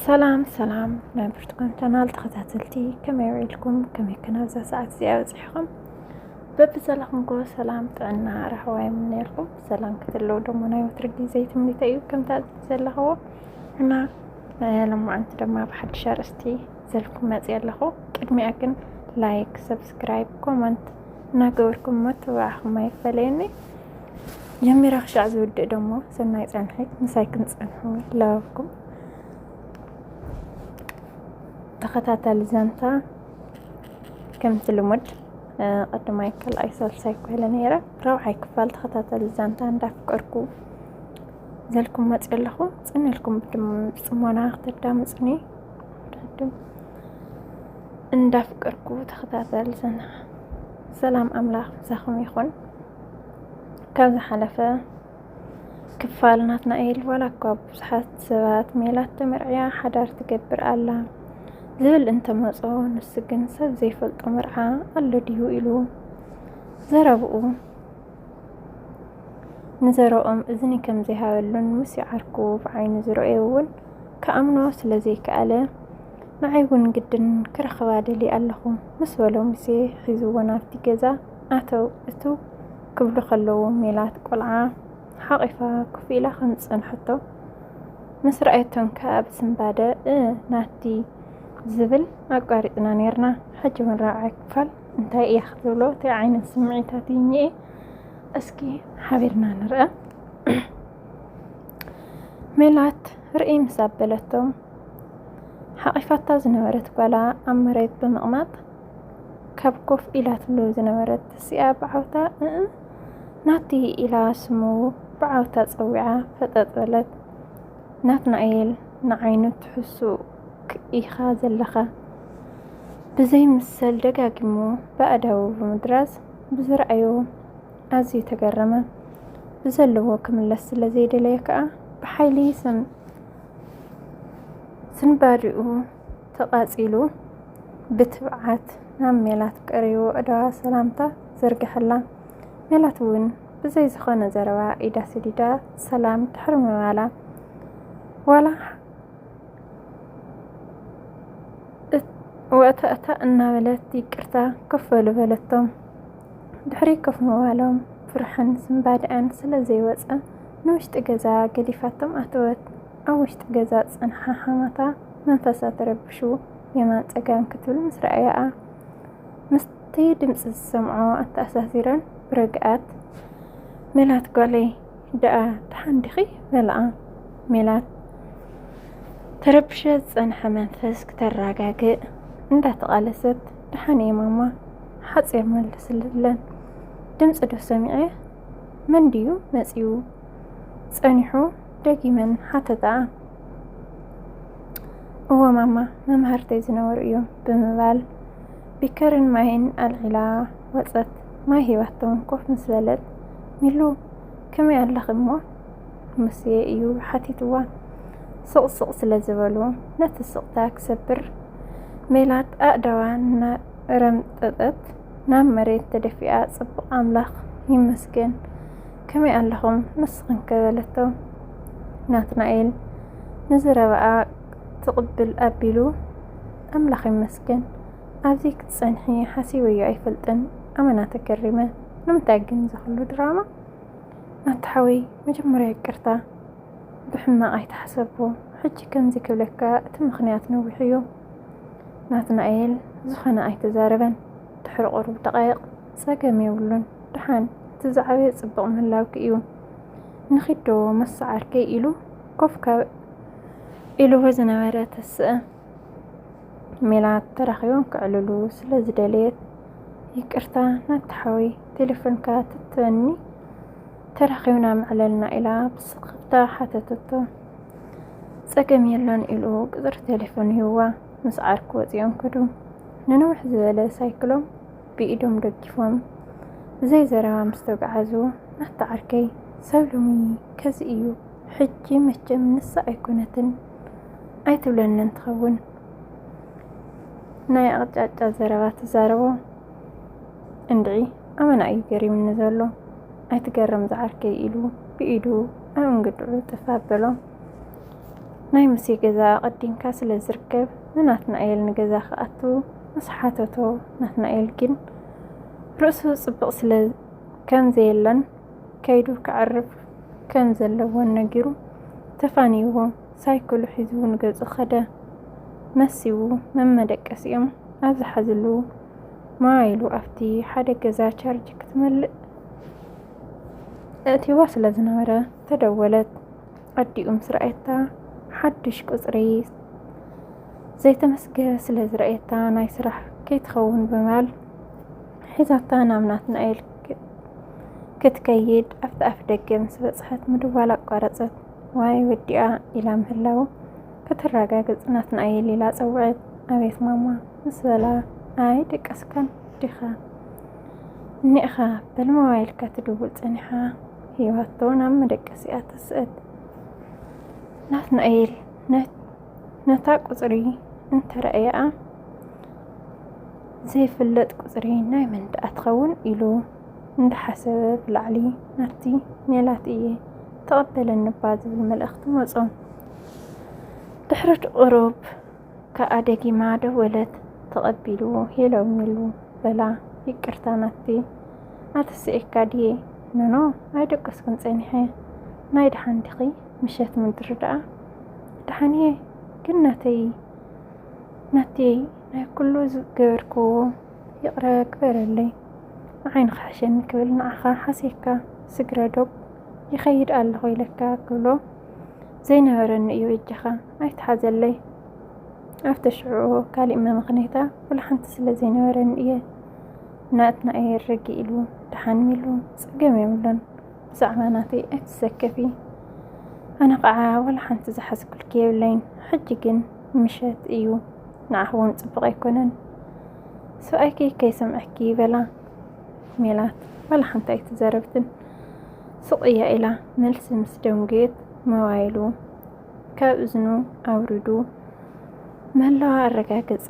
ሰላም ሰላም ናይ ብርቱካን ቻናል ተኸታተልቲ ከመይ ውዒልኩም ከመይ ከናብዛ ሰዓት እዚኣ በፂሕኹም በብዘለኹምኮ ሰላም ጥዕና ራህዋ የምነየልኩም ሰላም ክትለው ደሞ ናይ ወትሪ ግዜ ትምኒተ እዩ ከምታ ዘለኽዎ እና ለማዓንቲ ድማ ብሓድሽ ኣርእስቲ ዘልኩም መፅ ኣለኹ ቅድሚያ ግን ላይክ ሰብስክራይብ ኮመንት እናገበርኩም መተባዕኹም ኣይፈለየኒ ጀሚራ ክሻዕ ዝውድእ ደሞ ሰናይ ጸንሒ ምሳይ ክንጸንሑ ለኩም ተኸታታሊ ዛንታ ከምቲ ልሙድ ቀድማይ ካልኣይ ሳልሳይ ኮይለ ነይረ ረብዓይ ክፋል ተኸታተል ዛንታ እንዳፍቀርኩ ዘልኩም መፅ ኣለኹ ፅንልኩም ብፅሞና ክትዳምፅኒ ዳድም እንዳፍቀርኩ ተኸታተል ዘና ሰላም ኣምላኽ ብዛኹም ይኹን ካብ ዝሓለፈ ክፋል ናትናኤል ዋላ እኳ ብዙሓት ሰባት ሜላት ተመርዕያ ሓዳር ትገብር ኣላ ዝብል እንተመጾ ንሱ ግን ሰብ ዘይፈልጦ መርዓ ኣሎ ድዩ ኢሉ ዘረብኡ ንዘረኦም እዝኒ ከም ዘይሃበሉን ምስ ይዓርኩ ብዓይኒ ዝረኦ እውን ክኣምኖ ስለ ዘይከኣለ ንዓይ እውን ግድን ክረኽባ ደልየ ኣለኹ ምስ በሎ ሙሴ ሒዝዎ ናብቲ ገዛ ኣተው እትው ክብሉ ከለዉ ሜላት ቆልዓ ሓቒፋ ኮፍ ኢላ ከም ዝጸንሐቶ ምስ ረኣየቶም ከኣ ብስንባደ እ ናቲ ዝብል ኣቋሪጽና ነይርና። ሕጂ እውን ራብዓይ ክፋል እንታይ እያ ክትብሎ እንታይ ዓይነት ስምዒታት እዩ እኒኤ እስኪ ሓቢርና ንርኣ። ሜላት ርእይ ምስ ኣበለቶ ሓቒፋታ ዝነበረት ጓላ ኣብ መሬት ብምቕማጥ ካብ ኮፍ ኢላትሉ ዝነበረት ተሲኣ ብዓውታ እእ ናቲ ኢላ ስሙ ብዓውታ ጸዊዓ ፈጠጥ በለት። ናትናኤል ንዓይኑ ትሕሱእ ኢኻ ዘለኻ ብዘይምሰል ደጋጊሙ ብኣእዳዉ ብምድራዝ ብዝረኣዮ ኣዝዩ ተገረመ። ብዘለዎ ክምለስ ስለ ዘይደለየ ከኣ ብሓይሊ ስንባዲኡ ተቓጺሉ ብትብዓት ናብ ሜላት ቀሪቡ ዕዳዋ ሰላምታ ዘርገሐላ። ሜላት እውን ብዘይ ዝኾነ ዘረባ ኢዳ ስዲዳ ሰላም ድሕሪ ምባላ ዋላ ወእተእታ እናበለት ይቅርታ ክፈሉ በለቶም። ድሕሪ ኮፍ ምባሎም ፍርሕን ስምባድዐን ስለ ዘይወፀ ንውሽጢ ገዛ ገዲፋቶም ኣተወት። ኣብ ውሽጢ ገዛ ዝጸንሓ ሓማታ መንፈሳ ተረቢሹ የማን ጸጋም ክትብል ምስ ረኣያኣ ምስቲ ድምጺ ዝሰምዖ ኣተኣሳሲረን ብርግኣት ሜላት ጓለይ ደኣ ደሓን ዲኺ በላኣ ሜላት ተረብሸ ዝጸንሐ መንፈስ ክተረጋግእ እንዳተቓለሰት ደሓን እየ ማማ ሓጺር መልስለን ድምጺ ዶ ሰሚዐ መን ድዩ መጺኡ ጸኒሑ ደጊመን ሓተታ። እወ ማማ መማህርተይ ዝነበሩ እዮም ብምባል ቢከርን ማይን ኣልዒላ ወፀት። ማይ ሂባቶም ኮፍ ምስ በለት ሚሉ ከመይ ኣለኺ እሞ ሙስየ እዩ ሓቲትዋ። ስቕስቕ ስለ ዝበሉ ነቲ ስቕታ ክሰብር ሜላት ኣእዳዋ እናረምጠጠት ናብ መሬት ተደፊኣ ጽቡቕ ኣምላኽ ይመስገን ከመይ ኣለኹም ንስኽን ከ በለቶ። ናትናኤል ንዝረበኣ ትቕብል ኣቢሉ ኣምላኽ ይመስገን ኣብዚ ክትጸንሒ ሓሲበዮ ኣይፈልጥን ኣመና ተገሪመ። ንምንታይ ግን ዝኽሉ ድራማ? ናቲ ሓወይ መጀመርያ ይቅርታ ብሕማቕ ኣይተሓሰብኩ ሕጂ ከምዚ ክብለካ እቲ ምኽንያት ነዊሕ እዩ። ናትናኤል ዝኾነ ኣይተዛረበን ድሕሪ ቁሩብ ደቓይቕ ጸገም የብሉን ድሓን እቲ ዝዓበየ ጽቡቕ ምህላውኪ እዩ ንኺዶ መሰዓርከይ ኢሉ ኮፍ ካብ ኢልዎ ዝነበረ ተስእ ሜላት ተራኺቦም ክዕልሉ ስለ ዝደለየት ይቅርታ ናብቲ ሓወይ ቴሌፎንካ ትትበኒ ተራኺብና ምዕለልና ኢላ ብስክፍታ ሓተተቶ። ጸገም የሎን ኢሉ ቅፅሪ ቴሌፎን ይህዋ ምስ ዓርኩ ወፂኦም ከዱ። ንንውሕ ዝበለ ሳይክሎም ብኢዶም ደጊፎም ብዘይ ዘረባ ምስ ተጓዓዙ፣ ኣታ ዓርከይ፣ ሰብ ሎሚ ከዚ እዩ፣ ሕጂ መቸም ንሳ ኣይኮነትን ኣይትብለንን ትኸውን ናይ ኣቕጫጫ ዘረባ ትዛረቦ እንድዒ ኣመና እዩ ገሪምኒ ዘሎ ኣይትገረም ዝዓርከይ ኢሉ ብኢዱ ኣብ እንግድዑ ጥፍ ኣበሎ። ናይ ሙሴ ገዛ ኣቐዲምካ ስለ ዝርከብ ንናትናኤል ንገዛ ክኣቱ ምስ ሓተቶ ናትናኤል ግን ርእሱ ጽብቕ ስለ ከም ዘየለን ከይዱ ከዕርፍ ከም ዘለዎን ነጊሩ ተፋንይዎ ሳይክሉ ሒዙ ንገጹ ኸደ። መሲው መመደቀሲኦም ኣብ ዝሓዝሉ ሞባይሉ ኣብቲ ሓደ ገዛ ቻርጅ ክትመልእ እእቲዋ ስለ ዝነበረ ተደወለት። ኣዲኡ ምስ ረኣየታ ሓዱሽ ቁፅሪ ዘይተመስገ ስለ ዝረኣየታ ናይ ስራሕ ከይትኸውን ብምባል ሒዛታ ናብ ናትናኤል ክትከይድ ኣብቲ ኣፍ ደገ ምስ በፅሐት ምድዋል ኣቋረፀት። ዋይ ወዲኣ ኢላ ምህላው ከተረጋግፅ ናትናኤል ኢላ ፀውዐት። ኣቤት ማማ ምስ በላ ኣይ ደቀስካን ዲኻ እኒእኻ በል ሞባይልካ ትድውል ፀኒሓ ሂዋቶ ናብ መደቀሲኣ ትስእል። ናትናኤል ነታ ቁፅሪ እንተረኣየኣ ዘይፍለጥ ቁፅሪ ናይ መን ደኣ ትኸውን ኢሉ እንዳሓሰበ ብላዕሊ ናብቲ ሜላት እየ ተቐበለኒ እባ ዝብል መልእኽቲ መፆ። ድሕሪ ቁሩብ ከኣ ደጊማ ደወለት ተቐቢልዎ ሄሎሚሉ በላ ይቅርታ ናቲ ኣተሲኤካ ድየ ኖኖ ኣይደቀስኩን ጸኒሐ ናይ ደሓን ዲኺ ምሸት ምድሪ ደኣ ደሓን እየ ግን ናተይ ናተይ ናይ ኩሉ ዝገበርክዎ ይቕረ ግበረለይ ንዓይ ንኽሕሸኒ ክብል ንዓኻ ሓሴካ ስግረ ዶብ ይኸይድ ኣለኹ ኢለካ ክብሎ ዘይነበረኒ እዩ እጅኻ ኣይትሓዘለይ ኣብቲ ሽዑ ካሊእ መመኽነይታ ኩሉ ሓንቲ ስለ ዘይነበረኒ እየ ናትና እየ ረጊ ኢሉ ደሓን ኢሉ ፀገም የብሉን ብዛዕባ ናተይ ኣይትሰከፊ ኣነ ከዓ ዋላ ሓንቲ ዝሓዝኩልኪ የብለይን ሕጂ ግን ምሸት እዩ ንዓኽ እውን ፅቡቕ ኣይኮነን ሰብኣይኪ ከይሰምዐኪ በላ ሜላት ዋላ ሓንቲ ኣይትዘረብትን ስቕ እያ ኢላ መልሲ ምስ ደንጉየት ሞባይሉ ካብ እዝኑ ኣውሪዱ ምህላዋ ኣረጋገፀ።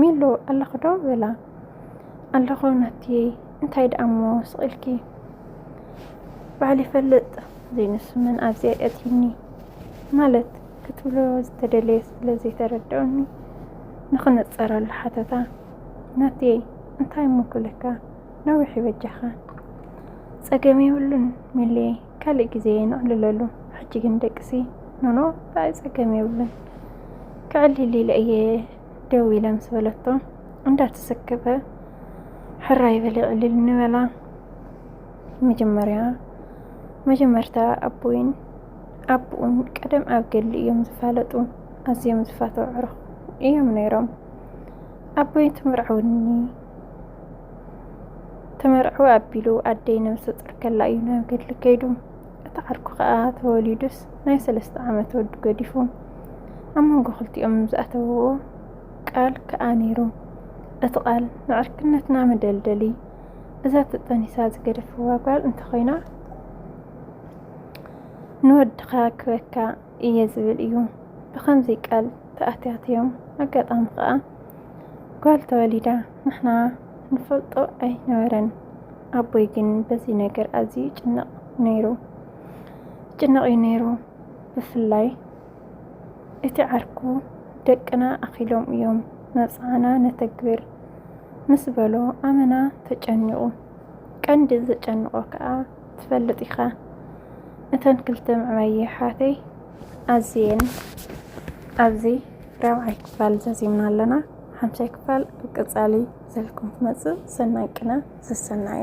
ሚሎ ኣለኹ ዶ በላ። ኣለኹ ናትየ፣ እንታይ ደኣ እሞ ስቕልኪ በዓል ይፈልጥ ዘይንሱ መን ኣብዚኣ የእትዩኒ ማለት ክትብሎ ዝተደለየ ስለ ዘይተረድኦኒ ንኽነፀረሉ ሓተታ። ናትየ እንታይ እሞ ክብለካ ነዊሕ ይበጃኻ ጸገም የብሉን ሚልየ ካልእ ግዜ ነዕልለሉ ሕጂ ግን ደቅሲ ኖኖ ብኣይ ጸገም የብሉን ክዕልል ኢለ እየ ደው ኢለ ምስ በለቶ እንዳተሰከፈ ሕራይ በለ ዕልል ንበላ መጀመርያ መጀመርታ ኣቦይን ኣቦኡን ቀደም ኣብ ገድሊ እዮም ዝፋለጡ ኣዝዮም ዝፋተው ዕሩኽ እዮም ነይሮም ኣቦይ ትምርዓውኒ ተመርዕወ ኣቢሉ ኣደይ ነብሰ ፁር ከላ እዩ ናብ ገድሊ ከይዱ እቲ ዓርኩ ከዓ ተወሊዱስ ናይ ሰለስተ ዓመት ወዲ ገዲፉ ኣብ መንጎ ክልቲኦም ዝኣተውዎ ቃል ከዓ ነይሩ እቲ ቃል ንዕርክነትና መደልደሊ እዛ ተጠኒሳ ዝገደፍዋ ጓል እንተኮይና ንወድካ ክበካ እየ ዝብል እዩ ብከምዚ ቃል ተኣትያትዮም ኣጋጣሚ ከዓ ጓል ተወሊዳ ንሕና ንፈልጦ ኣይነበረን። ኣቦይ ግን በዚ ነገር ኣዝዩ ይጭነቕ ነይሩ ይጭነቕ እዩ ነይሩ። ብፍላይ እቲ ዓርኩ ደቅና ኣኺሎም እዮም መብፅዓና ነተግብር ምስ በሎ ኣመና ተጨኒቑ። ቀንዲ ዘጨንቖ ከዓ ትፈልጥ ኢኻ እተን ክልተ ምዕባይ የሕዋተይ ኣዝየን ኣብዚ ራብዓይ ክፋል ዘዚምና ኣለና ሓምሻይ ክፋል ኣብ ቀፃሊ ዘልኩም ትመፅእ ሰናይ ቅነ ዘሰናዩ